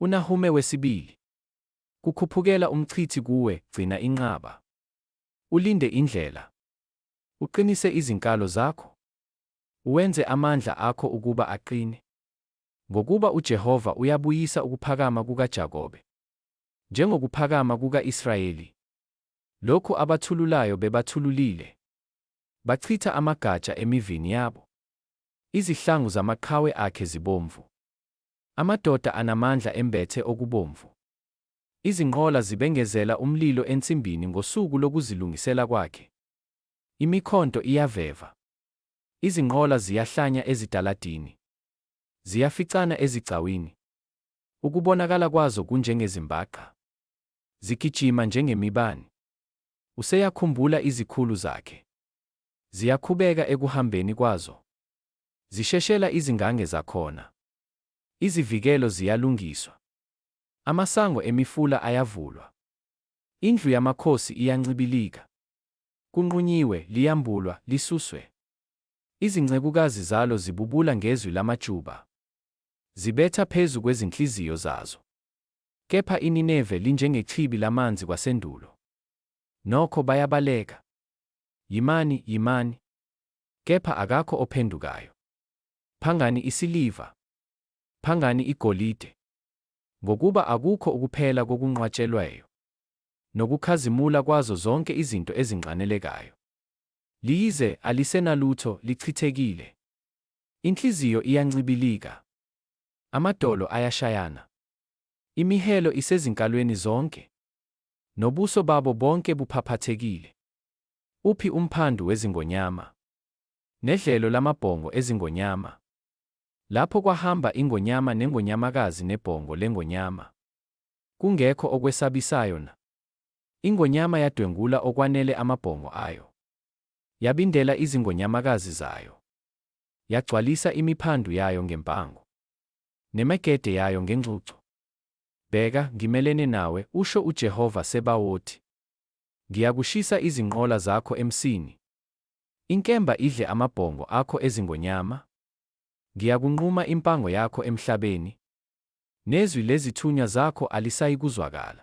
UNahume wesibili. Kukhuphukela umchithi kuwe, gcina inqaba. Ulinde indlela. Uqinise izinkalo zakho. Uwenze amandla akho ukuba aqine. Ngokuba uJehova uyabuyisa ukuphakama kukaJakobe, njengokuphakama kuka-Israyeli, lokhu abathululayo bebathululile, bachitha amagatsha emivini yabo. Izihlangu zamaqhawe akhe zibomvu. Amadoda anamandla embethe okubomvu. Izinqola zibengezela umlilo ensimbini ngosuku lokuzilungisela kwakhe. Imikhonto iyaveva. Izinqola ziyahlanya ezitaladini. Ziyaficana ezigcawini. Ukubonakala kwazo kunjengezimbaqa. Zigijima njengemibani. Useyakhumbula izikhulu zakhe. Ziyakhubeka ekuhambeni kwazo. Zisheshela izingange zakhona. Izivikelo ziyalungiswa. Amasango emifula ayavulwa. Indlu yamakhosi iyancibilika. Kunqunyiwe, liyambulwa, lisuswe. Izincekukazi zalo zibubula ngezwi lamajuba. Zibetha phezu kwezinhliziyo zazo. Kepha iNineve linjengechibi lamanzi kwasendulo. Nokho bayabaleka. Yimani, yimani. Kepha akakho ophendukayo. Phangani isiliva. Phangani igolide. Ngokuba akukho ukuphela kokunqwatshelweyo, nokukhazimula kwazo zonke izinto ezinxanelekayo. Liyize, alisenalutho, lichithekile. Inhliziyo iyancibilika. Amadolo ayashayana. Imihelo isezinkalweni zonke. Nobuso babo bonke buphaphathekile. Uphi umphandu wezingonyama? Nedlelo lamabhongo ezingonyama? Lapho kwahamba ingonyama nengonyamakazi nebhongo lengonyama. Kungekho okwesabisayo na? Ingonyama yadwengula okwanele amabhongo ayo. Yabindela izingonyamakazi zayo. Yagcwalisa imiphandu yayo ngempango. Nemegede yayo ngengcucu. Bheka, ngimelene nawe, usho uJehova Sebawoti. Ngiyakushisa izinqola zakho emsini, inkemba idle amabhongo akho ezingonyama, ngiyakunquma impango yakho emhlabeni, nezwi lezithunywa zakho alisayikuzwakala.